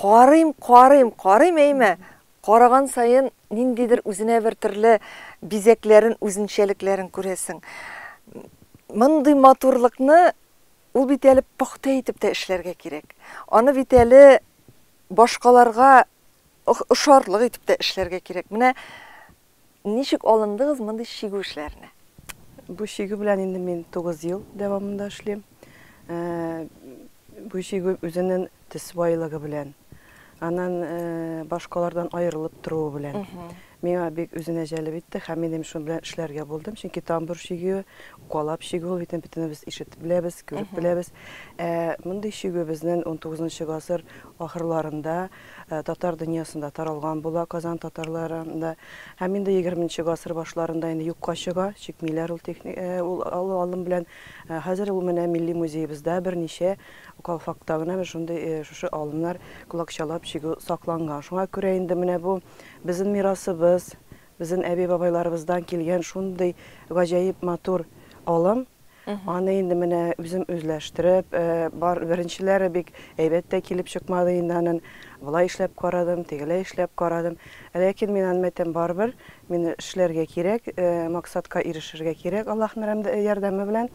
Карыйм, карыйм, карыйм, әйме, караган саен ниндидер үзенә бер төрле бизәкләрен, үзенчәлекләрен күрәсең. Мондый матурлыкны ул бит әле пөхтә итеп тә эшләргә кирәк. Аны бит әле башкаларга ошарлык итеп тә эшләргә кирәк. Менә Ничек алындыгыз мондый чигү эшләренә? Бу чигү белән инде мин тугыз ел дәвамында эшлим. Бу чигү үзенен төс байлыгы белән, анан башкалардан аерылып торуы белән миңа бик үзенә җәлеп итте һәм мин инде шуның белән эшләргә булдым. Чөнки тамбур чигүе, укалап чигү ул бит инде бөтенебез ишетеп беләбез, күреп беләбез. Ә мондый чигү безнен унтугызынчы гасыр ахырларында татар дөньясында таралган була, Казан татарлары анда һәм инде егерменче гасыр башларында инде юкка чыга, чикмиләр ул техник ул алу алым белән. Хәзер ул менә милли музеебызда берничә калфакта гына менә шундый шушы алымнар колакчалап чигү сакланган. Шуңа күрә инде менә бу безнең мирасыбыз, безнең әби-бабайларыбыздан килгән шундый гаҗәеп матур алым. Аны инде менә үзем үзләштереп, бар беренчеләре бик әйбәт тә килеп чыкмады инде анын. Болай эшләп карадым, тегеләй эшләп карадым. Ләкин мин аны әйтәм, барыбер мин эшләргә кирәк, максатка ирешергә кирәк Аллаһның ярдәме белән.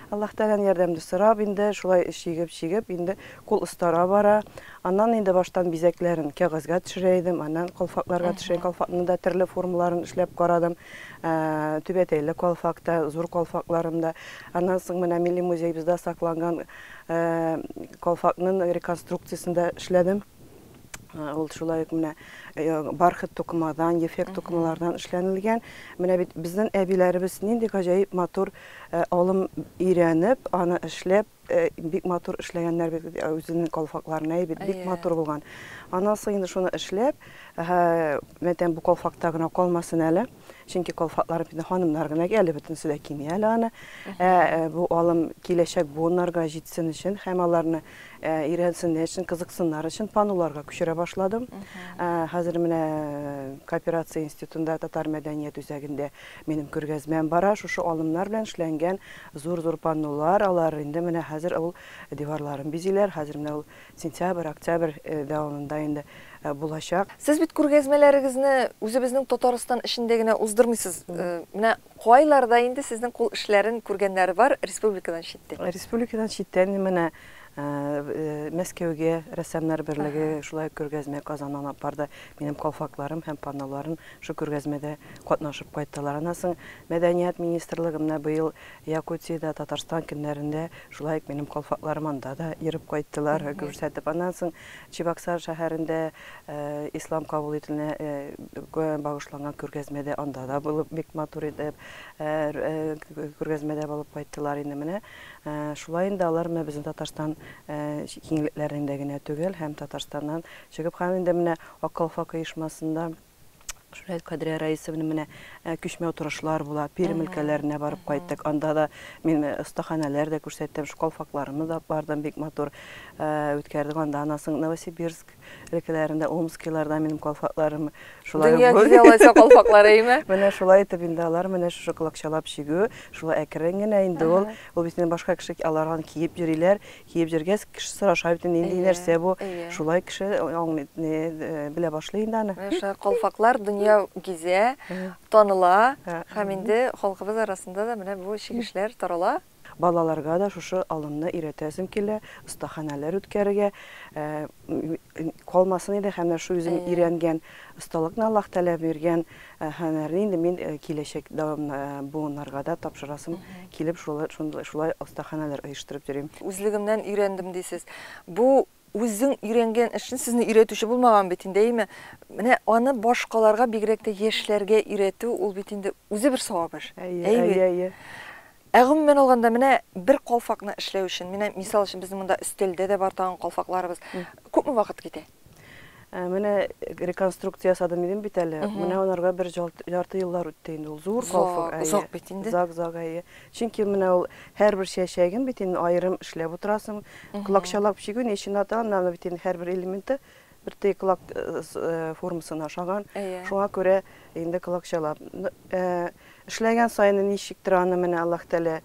Аллаһ Тәгаләнең ярдәмне сорап, инде шулай чигеп-чигеп, инде кул остара бара. Аннан инде баштан бизәкләрен кәгазьгә төшерә идем, аннан калфакларга төшерә идем, калфакның да төрле формаларын эшләп карадым. Түбәтәйле калфакта, Зур калфакларында. Аннан соң менә милли музеебызда сакланган калфакның реконструкциясендә эшләдем. Ул шулай ук менә бархат тукымадан, ефәк тукымалардан эшләнелгән. Менә бит безнең әбиләребез нинди гаҗәеп матур алым өйрәнеп, аны эшләп, Бик матур эшләгәннәр бит үзенең калфакларын, әй бит, бик матур булган. Аннан соң инде шуны эшләп, мәтәм бу калфакта гына калмасын әле, чөнки калфаклар бит ханымнар гына кия, әле бөтенесе дә кими әле аны. Ә бу алым киләчәк буыннарга җитсен өчен һәм аларны өйрәнсеннәр өчен, кызыксыннар өчен паннуларга күчерә башладым. Хәзер менә кооперация институтында татар мәдәният үзәгендә минем күргәзмәм бара, шушы алымнар белән эшләнгән Зур-зур паннолар алар, инде менә хәзер авыл диварларын бизиләр, хәзер менә ул сентябрь, октябрь дәвамында инде булачак. Сез бит күргәзмәләрегезне үзебезнең Татарстан эчендә генә уздырмыйсыз, менә кайларда инде сезнең кул эшләрен күргәннәр бар республикадан читтә? Республикадан читтә менә Мәскәүгә рәссамнар берлеге шулай ук күргәзмә Казаннан алып барды. Минем калфакларым һәм панноларым шул күргәзмәдә катнашып кайттылар. Аннан соң Мәдәният министрлыгы менә быел Якутиядә Татарстан көннәрендә шулай ук минем калфакларым анда да йөреп кайттылар, күрсәтеп. Аннан соң Чебоксар шәһәрендә Ислам кабул ителүенә багышланган күргәзмәдә анда да булып, бик матур итеп күргәзмәдә булып кайттылар инде менә. Шулай инде алар менә безнең Татарстан киңлекләрендә генә түгел, һәм Татарстаннан чыгып, һәм инде менә Ак калфак оешмасында Шулай Кадрия Раисовна менә күчмә утырышлар була, Пермь өлкәләренә барып кайттык. Анда да мин остаханәләр дә күрсәттем, шу калфакларны да бардым, бик матур үткәрдек. Анда анасының Новосибирск Өлкәләрендә омскилардан минем калфакларым шулай Дөнья гүр- гүзәл Айса калфаклары әйме? Менә шулай итеп инде алар менә шушы колакчалап чигү, шулай әкрен генә инде ул. Ул бит инде башка кеше аларган киеп йөриләр. Киеп йөргәс, кеше сораша бит инде, нинди Әйе, нәрсә бу? әйе. Шулай кеше аңлый, не, э, белә башлый инде аны. Менә шулай калфаклар дөнья гизә, таныла Ә, һәм инде халкыбыз арасында да менә бу чигешләр тарала. Балаларга да шушы алымны өйрәтәсем килә, остаханәләр үткәрергә калмасын иде һәм менә шул үзем өйрәнгән осталыкны Аллаһ Тәгалә биргән һөнәрне инде мин киләчәк буыннарга да тапшырасым килеп, шулай остаханәләр оештырып йөрим. Үзлегемнән өйрәндем дисез. Бу Үзең өйрәнгән эшне сезне өйрәтүче булмаган бит инде, әйеме? Менә аны башкаларга, бигрәк тә яшьләргә өйрәтү, ул бит инде үзе бер савап эш. Әйе, әйе, әйе. Ә гомумән алганда, менә бер калфакны эшләү өчен, менә мисал өчен безнең монда өстәлдә дә бар тагын калфакларыбыз, күпме вакыт китә? Менә реконструкция ясадым дидем бит әле, менә анарга бер ярты еллар үтте инде, ул зур калфак. Озак бит инде. Озак, озак, әйе. Чөнки менә ул һәрбер чәчәген бит инде аерым эшләп утырасың. Колакчалап чигү ни өчен ата, аннан бит инде һәрбер элементы бер теге колак формасына ошаган. Шуңа күрә инде колакчалап. Эшләгән саен ничектер аны менә Аллаһ Тәгалә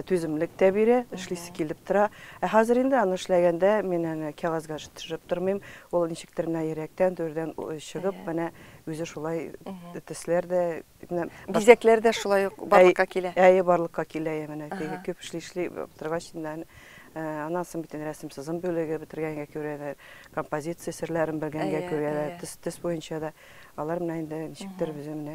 түземлек тә бирә, эшлисе килеп тора. Ә хәзер инде аны эшләгәндә мин аны кәгазьгә төшереп тормыйм. Ул ничектер менә йөрәктән, түрдән чыгып, менә үзе шулай төсләр дә Бизәкләр дә шулай ук барлыкка килә. Әйе, барлыкка килә. Менә теге күп эшли эшли торгач инде аннан соң бит рәсем сызым бүлеге бетергәнгә күрәләр, композиция серләрен белгәнгә күрәләр, төс буенча да алар менә инде ничектер безгә менә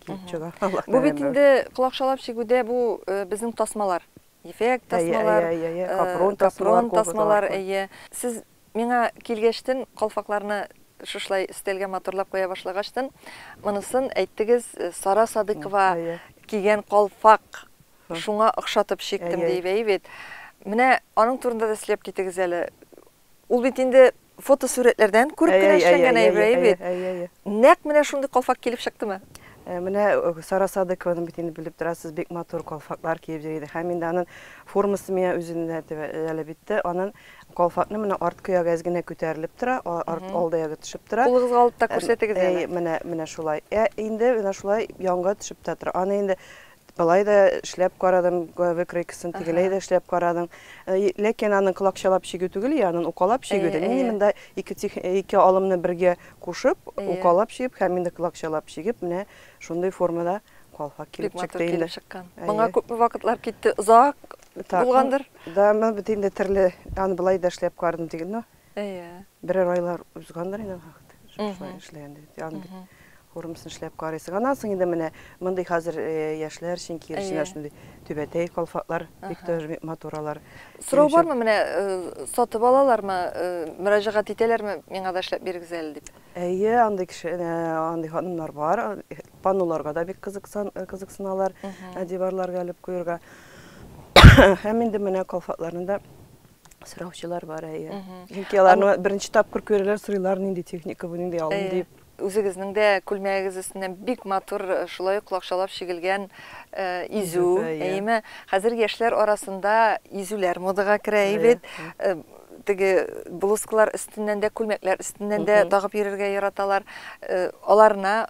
килеп чыга. Бу бит инде колакчалап чигүдә бу безнең тасмалар, ефәк тасмалар, капрон тасмалар. Әйе, әйе, әйе. Капрон тасмалар, әйе. Сез Миңа килгәчтен, калфакларны шушлай өстәлгә матурлап куя башлагачтын, монысын әйттегез, Сара Садыйкова кигән калфак, шуңа охшатып чиктем диеп әйбит. Менә аның турында да сөйләп китегез әле. Ул бит инде фотосурәтләрдән күреп кенә эшләнгән әйбер әйбит. Нәкъ менә шундый калфак килеп чыктымы? Менә Сара Садыйкованы бит инде белеп торасыз, бик матур калфаклар киеп йөри иде. Һәм инде аның формасы миңа үзенә дә әле бит тә, аның Калфакны менә арткы ягы әз генә күтәрелеп тора, арт алды ягы төшеп тора. Кулыгызга алып та күрсәтегез әле. Әй, менә, менә шулай. Ә инде менә шулай янга төшеп тә тора. Аны инде былай да эшләп карадым, выкройкасын тегеләй дә эшләп карадым. Ләкин аның колакчалап чигү түгел, я анын укалап чигү дә. Мин монда ике алымны бергә кушып, укалап чигеп һәм инде колакчалап чигеп, менә шундый формада калфак килеп чыкты инде. Бик матур килеп чыккан. Моңа күпме вакытлар китте? Озак Так, Булгандыр. Да, мен бит инде терле, аны былай да эшләп кардым диген, но Әйе. берәр айлар узгандыр инде вакыт. Шулай Мгм. эшләгәндә бит. Аны бит Мгм. урымсын эшләп карыйсың. Аннан соң инде менә мондый хәзер э, яшьләр өчен кирешенә Әйе. шундый түбәтәй калфаклар бик Аха. тә матур алар. Сорау Минемчә- бармы менә э, сатып алалармы, э, мөрәҗәгать итәләрме, миңа да эшләп бирегез әле дип? Әйе, андый кеше, э, андый ханымнар бар. Панноларга да бик кызыксан, э, кызыксыналар, э, диварларга элеп куерга. Һәм инде менә калфатларны да сораучылар бар, әйе. Чөнки аларны беренче тапкыр күрәләр, сорыйлар, нинди техника бу, нинди алым Әйе. дип. Үзегезнең дә күлмәгегез өстеннән бик матур, э, шулай ук лакшалап чигелгән э, изү, Изү, әйе. әйеме? Хәзер яшьләр арасында изүләр модага керә Әйе. бит. Э, Теге блузкалар өстеннән дә, күлмәкләр өстеннән дә Мгм. тагып йөрергә яраталар. Э, Аларына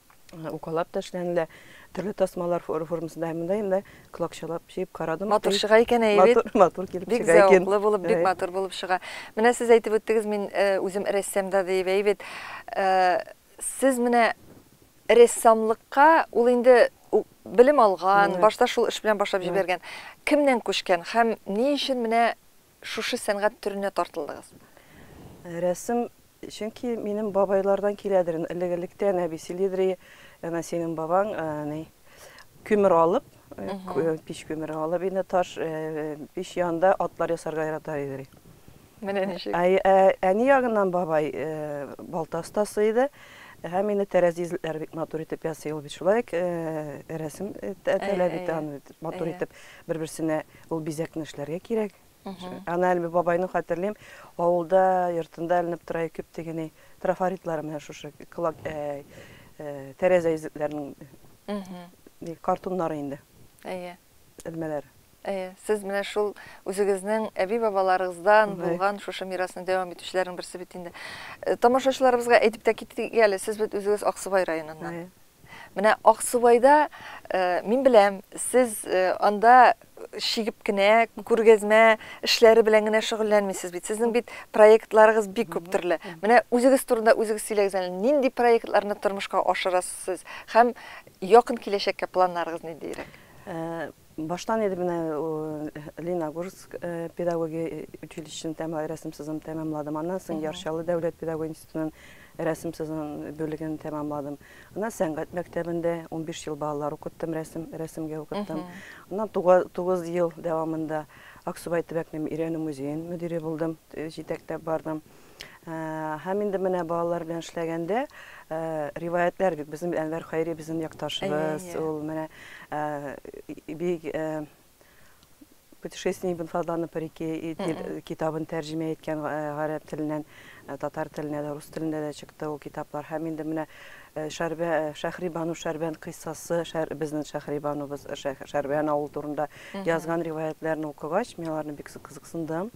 укалап та эшләнелә, төрле тасмалар формасында һәм монда инде клокчалап җыеп карадым. Матур чыга икән әйе бит. Матур, матур килеп чыга икән. Бик зәвыклы булып, бик матур булып чыга. Менә сез әйтеп үттегез, мин үзем рәссам да диеп, әйе бит. Сез менә рәссамлыкка ул инде белем алган, башта шул эш белән башлап җибәргән. Кемнән күчкән һәм ни өчен менә шушы сәнгать төренә тартылдыгыз? Рәсем, чөнки минем бабайлардан киләдер, элек-электән әби сөйлидер, әнә синең бабаң әни күмер алып, пич күмере алып, инде таш пич янында атлар ясарга ярата иде. Менә ничек. Әни ягыннан бабай балта остасы иде. Һәм инде тәрәзи эзлекләре бик матур итеп ясый ул бит шулай ук рәсем таләп итә аны матур итеп бер-берсенә Ул бизәкне эшләргә кирәк. Ана әле бабайны хәтерлим, авылда, йортында эленеп тора ике тегене трафаритлары менә шушы кылак э, э, тәрәзә изетләренең картуннары инде. Әйе. Элмәләре. Әйе, сез менә шул үзегезнең әби-бабаларыгыздан булган шушы мирасны дәвам итүчеләрнең берсе бит инде. Э, тамашачыларыбызга әйтеп тә китик әле, сез бит үзегез Аксубай районыннан. Менә Аксубайда, мин беләм, сез анда чигеп кенә, күргәзмә эшләре белән генә шөгыльләнмисез бит. Сезнең бит проектларыгыз бик күп төрле. Менә үзегез турында үзегез сөйләгез әле, нинди проектларны тормышка ашырасыз сез һәм якын киләчәккә планнарыгыз ниндиерәк? Баштан инде менә Леногорск педагогия училищесын тәмам рәсем сызым тәмамладым. Аннан соң Ярчалы дәүләт педагогия институтының рәсем сызым бүлеген тәмамладым. Аннан сәнгать мәктәбендә 15 ел балалар укыттым, рәсем рәсемгә укыттым. Аннан 9 ел дәвамында Аксубай төбәк мөирәнү музеен мөдире булдым, җитәкләп бардым. Һәм инде менә балалар белән эшләгәндә риваятьләр бит безнең Әнвәр Хайри безнең якташыбыз, ул менә бик путешествие ибн Фадлана по реке китабын тәрҗемә иткән гарәп теленнән татар теленә дә, рус телендә дә чыкты ул китаплар. Һәм инде менә Шәһрибану Шәрбән кыйссасы, безнең Шәһрибанубыз Шәрбән авылы турында язган риваятьләрне укыгач, мин аларны бик кызыксындым.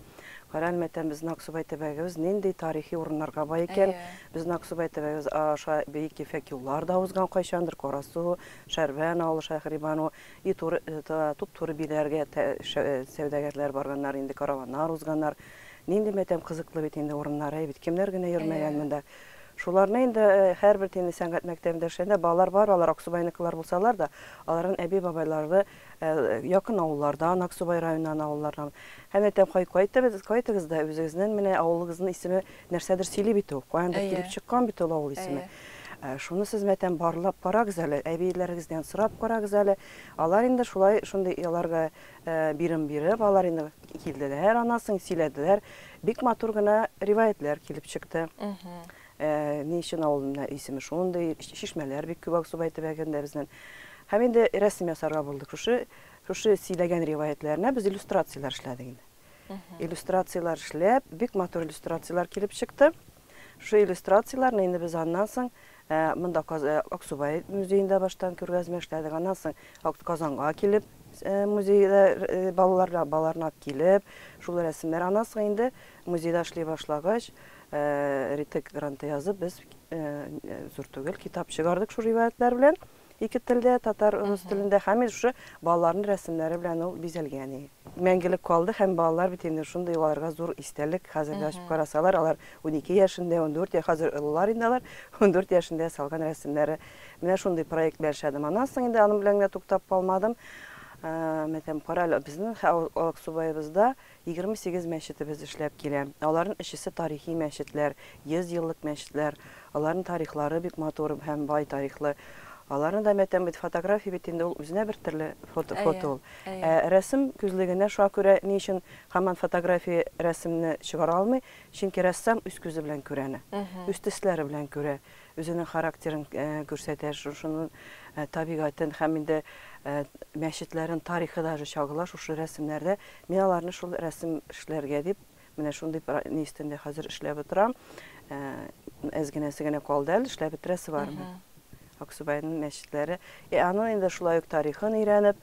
Кара әле, матәм, безнең Аксубай төбәгебез нинди тарихи урыннарга бай икән. Безнең Аксубай төбәгебез аша бөек ефәк юллар да узган кайчандыр, Карасу, Шәрбән авылы, Шәһрибану, и туры, туп-туры биләргә сәүдәгәрләр барганнар инде, караваннар узганнар. Нинди матәм кызыклы бит инде урыннар, әй бит, кемнәр генә йөрмәгән монда. Шуларны инде һәрбер сәнгать мәктәбендә эшләгәндә балалар бар, алар Аксубайныкылар булсалар да, аларның әби-бабайлары, Якын авыллардан, Аксубай районыннан авыллардан. Һәм әйтәм, кай, кайтыгыз, кайтыгыз да, үзегезнен менә авылыгызның исеме нәрсәдер сөйли бит ул, каяндыр килеп чыккан бит ул авыл исеме. Шуны сез, мәтәм, барлап карагыз әле, әбиеләрегездән сорап карагыз әле. Алар инде шулай, шундый аларга бирем биреп, алар инде килделәр, анасын сөйләделәр. Бик матур гына риваятьләр килеп чыкты. Ә ни өчен авыл менә исеме шундый, чишмәләр бик күп Аксубай төбәгендә безнең. Һәм инде рәсем ясарга булдык. Шушы, шушы сөйләгән риваятьләренә без иллюстрацияләр эшләдек инде. Иллюстрацияләр эшләп, бик матур иллюстрацияләр килеп чыкты. Шушы иллюстрацияләрне инде без аннан соң ә, монда Каз- ә, Аксубай музеенда баштан күргәзмә эшләдек. Аннан соң Ак- Казанга килеп, э, музейда э, балалар, балаларны алып килеп, шул рәсемнәр. Аннан соң инде Музейда эшли башлагач, Ритек гранты язып, без зур түгел китап чыгардык шул риваятьләр белән. Ике телдә, татар, рус телендә һәм инде шушы балаларның рәсемнәре белән ул бизәлгән. Мәңгелек калды һәм балалар бит инде шундый аларга зур истәлек. Хәзер дә ачып карасалар, алар унике яшендә, ундүрт яшь, хәзер олылар инде алар, ундүрт яшендә салган рәсемнәре. Менә шундый проект белән эшләдем. Аннан соң инде аның белән генә туктап калмадым. Мәсәлән, кара әле, безнең Алыксубаебызда Егерме сигез мәчетебез эшләп килә. Аларның өчесе тарихи мәчетләр, 100 еллык мәчетләр. Аларның тарихлары бик матур һәм бай тарихлы. Аларны да мәйтәм бит, фотография бит инде ул үзенә бер төрле фото фото ул. Ә рәсем күзлегенә шуңа күрә ни өчен һаман фотография рәсемне чыгара алмый, чөнки рәссам үз күзе белән күрә аны, үз төсләре белән күрә. Үзенең характерын күрсәтә, шушының табигатен һәм инде мәчетләрен тарихы даже чагыла шушы рәсемнәрдә. Мин аларны шул рәсем эшләргә дип, менә шундый ни өстендә хәзер эшләп утырам. Әз генәсе генә калды әле, эшләп бетерәсе бар мин. Аксубайның мәчетләре. И аның инде шулай ук тарихын өйрәнеп,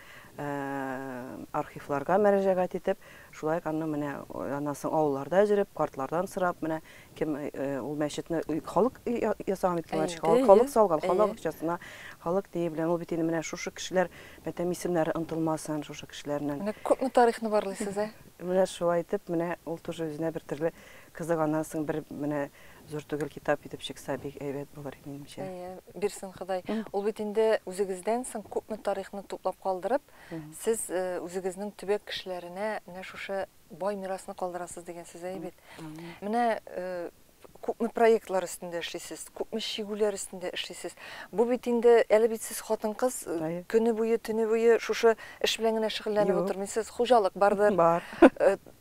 архивларга мәрәҗәгать итеп, шулай ук аннан менә аннан соң авылларда йөреп, картлардан сорап, менә Кем ул мәчетне халык ясаган бит мәчет, халык салган, халык акчасына, халык тие белән. Ул бит инде менә шушы кешеләр, мәтәм исемнәре онтылмасын шушы кешеләрнең. Менә күпме тарихны барлыйсыз, ә? Менә шулай итеп, менә ул тоже үзенә бер төрле кызыганасың, бер менә зур түгел китап итеп чыкса, бик әйбәт булыр иде минемчә. Әйе, бирсен Ходай. Ул бит инде үзегездән соң күпме тарихны туплап калдырып, сез үзегезнең төбәк кешеләренә менә шушы Бай мирасны калдырасыз дигән сүз әйбәт. Менә күпме проектлар өстендә эшлисез, күпме чигүләр өстендә эшлисез. Бу бит инде әле бит сез хатын-кыз көне буе, төне буе шушы эш белән генә шөгыльләнеп утырмыйсыз. Хуҗалык бардыр. Бар.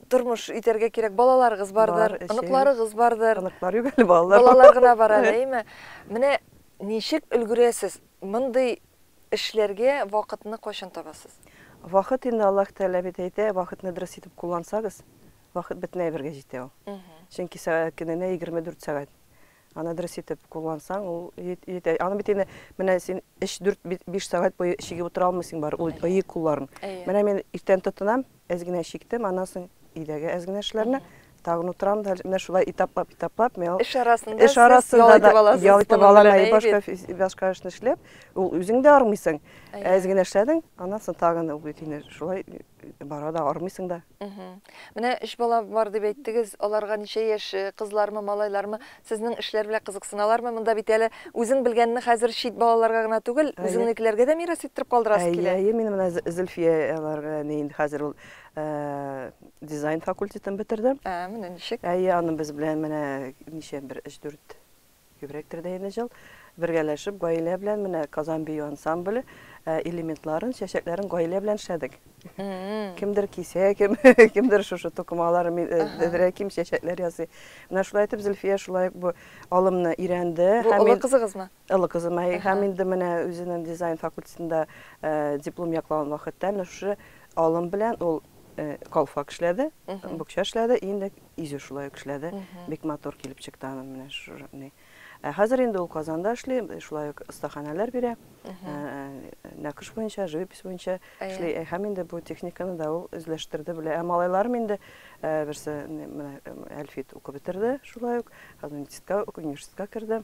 Тормыш итәргә кирәк. Балаларыгыз бардыр, оныкларыгыз бардыр. Оныклар юк әле, балалар. Балалар гына бар әле, әйме? Менә ничек өлгерәсез? Мондый эшләргә вакытны кайчан табасыз? Вакыт инде Аллаһ Тәгалә бит әйтә, вакытны дөрес итеп куллансагыз, вакыт бөтен әйбергә җитә ул. Чөнки сәгать көненә 24 сәгать. Аны дөрес итеп куллансаң, ул җитә. Аны бит инде менә син 3-4-5 сәгать буе чигеп утыра алмыйсың барыбер ул кулларың. Менә мин иртән тотынам, Әз генә чиктем, аннан соң өйдәге әз генә эшләрне, тагын утырам да, менә шулай этаплап, этаплап, мин ул Эш арасында эш сез ял арасында итеп да аласыз. ял итеп моның алам, белән, әй, әйбәт. башка фи- башка эшне эшләп, ул үзең дә армыйсың. Әйе. Әз генә эшләдең, аннан соң тагын ул бит инде шулай бара да, армыйсың да. Мгм. Менә өч бала бар дип әйттегез, аларга ничә яшь, э, кызлармы, малайлармы? Сезнең эшләр белә кызыксыналармы? Монда бит әле үзең белгәнне хәзер чит балаларга гына түгел, үзеңнекеләргә дә мирас иттереп калдырасы килә. Әйе, әйе, мин менә Зөлфия аларга әни инде хәзер ул дизайн факультетын бетерде. Ә, менә ничек. Әйе, аның без белән менә ничә бер өч-дүрт күбрәктер дә инде җыл бергәләшеп, гаилә белән менә Казан бию ансамбле элементларын, чәчәкләрен гаилә белән эшләдек. Кемдер кисә, кем, кемдер шушы тукымалар, дедерә ким чәчәкләр ясый. Менә шулай итеп Зөлфия шулай бу алымны өйрәнде. Бу олы кызыгызмы? Олы кызым. Һәм инде менә үзенең дизайн факультетында э, диплом яклавын вакытта менә шушы алым белән ул э, калфак эшләде, букча эшләде, инде изе шулай эшләде. Бик матур килеп чыкты аның менә шушы. Ә хәзер инде ул Казанда эшли, шулай ук остаханәләр бирә. Нәкыш буенча, живопись буенча эшли. Һәм инде бу техниканы да ул үзләштерде, белә. Ә малайларым инде берсе менә Әлфит укып бетерде, шулай ук Казанитистка университетка керде.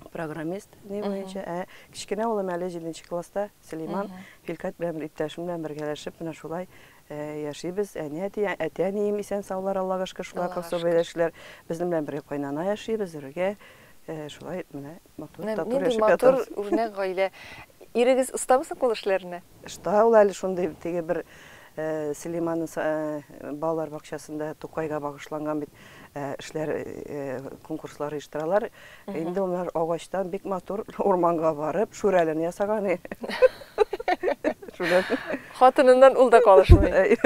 Программист ни буенча. Ә кечкенә улым әле 7 класста, Сөләйман, Хилкат белән иптәшем белән бергәләшеп, менә шулай Яшибез, әни-әти, әти-әнием исән-саулар, Аллага шөкер, шулар да особый рәвешле безнең белән бергә кайнана яши, без бергә шулай менә матур, тату яшәп ятабыз. Нинди матур, үрнәк гаилә. Ирегез остамы соң кул эшләренә? Оста ул әле шундый, теге бер Сөләйман балалар бакчасында Тукайга багышланган бит эшләр, конкурслар оештыралар, Инде улар агачтан бик матур урманга барып, шүрәлен ясаган. Хатыныннан ул да калышмый.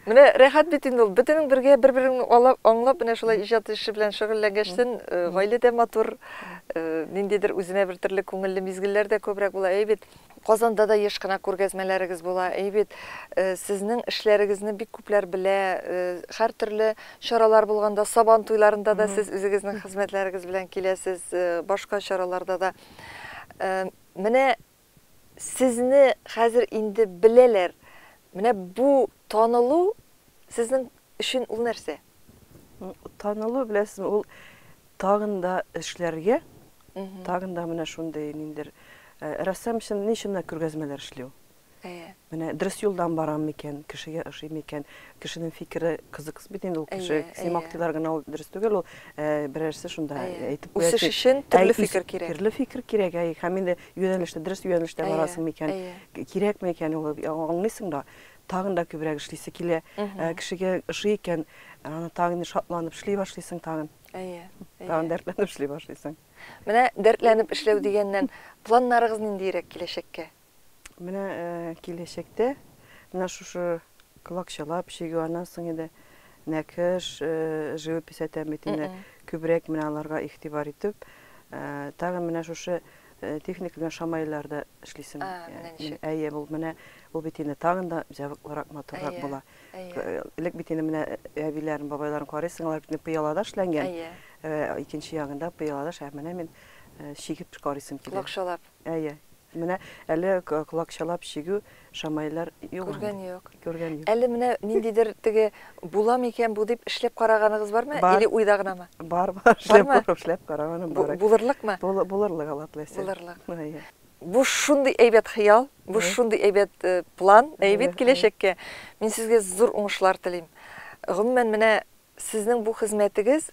Менә рәхәт бит инде ул. Бөтенең бергә бер-береңне алып, аңлап, менә шулай иҗат эше белән шөгыльләнгәчтен, гаилә дә матур, ниндидер үзенә бер төрле күңелле мизгелләр дә күбрәк була. Әйе бит? Казанда да еш кына күргәзмәләрегез була, әйе бит? Сезнең эшләрегезне бик күпләр белә, һәртөрле чаралар булганда, Сабан туйларында да сез үзегезнең хезмәтләрегез белән киләсез, башка чараларда да. Менә сезне хәзер инде беләләр. Менә бу танылу сезнең өчен ул нәрсә? Танылу, беләсезме, ул тагын да эшләргә, тагын да менә шундый ниндидер, рәссам өчен ни өчен менә күргәзмәләр эшли ул? Әйе. Менә дөрес юлдан барам микән, кешегә ошый микән, кешенең фикере кызыксыз бит инде ул кеше, симактыйлар гына ул дөрес түгел ул, берәрсе шунда әйтеп куя. Үсеш өчен төрле фикер кирәк. Төрле фикер кирәк, әйе, һәм инде юнәлештә, дөрес юнәлештә барасың микән, кирәкме икән ул, аңлыйсың да. тагын да күбрәк эшлисе килә. Кешегә ошый икән, аны тагын шатланып эшли башлыйсың тагын. Әйе. Тагын дәртләнеп эшли башлыйсың. Менә дәртләнеп эшләү дигәннән, планнарыгыз ниндиерәк киләчәккә? Менә киләчәктә менә шушы колакчалап чигү, аннан соң инде нәкыш, живопись әйтәм бит инде, күбрәк менә аларга игътибар итеп, тагын менә шушы Техник белән шамайлар да эшлисең. Әйе, ул менә ул бит инде тагын да җавыклырак, матуррак була. Элек бит инде менә әбиләрен, бабайларын карыйсың, алар бит пыялада эшләнгән. Икенче ягында пыялада, ә менә мин чигеп карыйсым килә. Колакчалап. Әйе. Менә әле колакчалап чигү Шамайлар йөгергән юк. Йөгергән юк. Әле менә ниндидер теге була микән бу дип эшләп караганыгыз бармы? Бар. Или уйда гынамы? Бар, бар. Эшләп, Бармы? эшләп караганым бар. Бу, булырлыкмы? Бул, булырлык Алла теләсә. Булырлык. Әйе. Бу шундый әйбәт хыял, бу Әйе. шундый әйбәт э, план, әйбәт Әйе, әйе. киләчәккә. Мин сезгә зур уңышлар телим. Гомумән, менә Сезнең бу хезмәтегез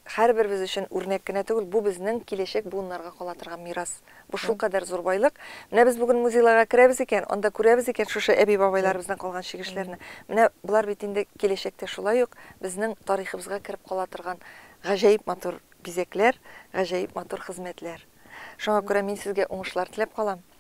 һәрберебез өчен үрнәк кенә түгел, бу безнең киләчәк буыннарга кала торган мирас. Бу шулкадәр зур байлык. Менә без бүген музейларга керәбез икән, анда күрәбез икән шушы әби-бабайларыбыздан калган чигешләрне. Менә болар бит инде киләчәктә шулай ук безнең тарихыбызга кереп кала торган гаҗәеп матур бизәкләр, гаҗәеп матур хезмәтләр. Шуңа күрә мин сезгә уңышлар теләп калам.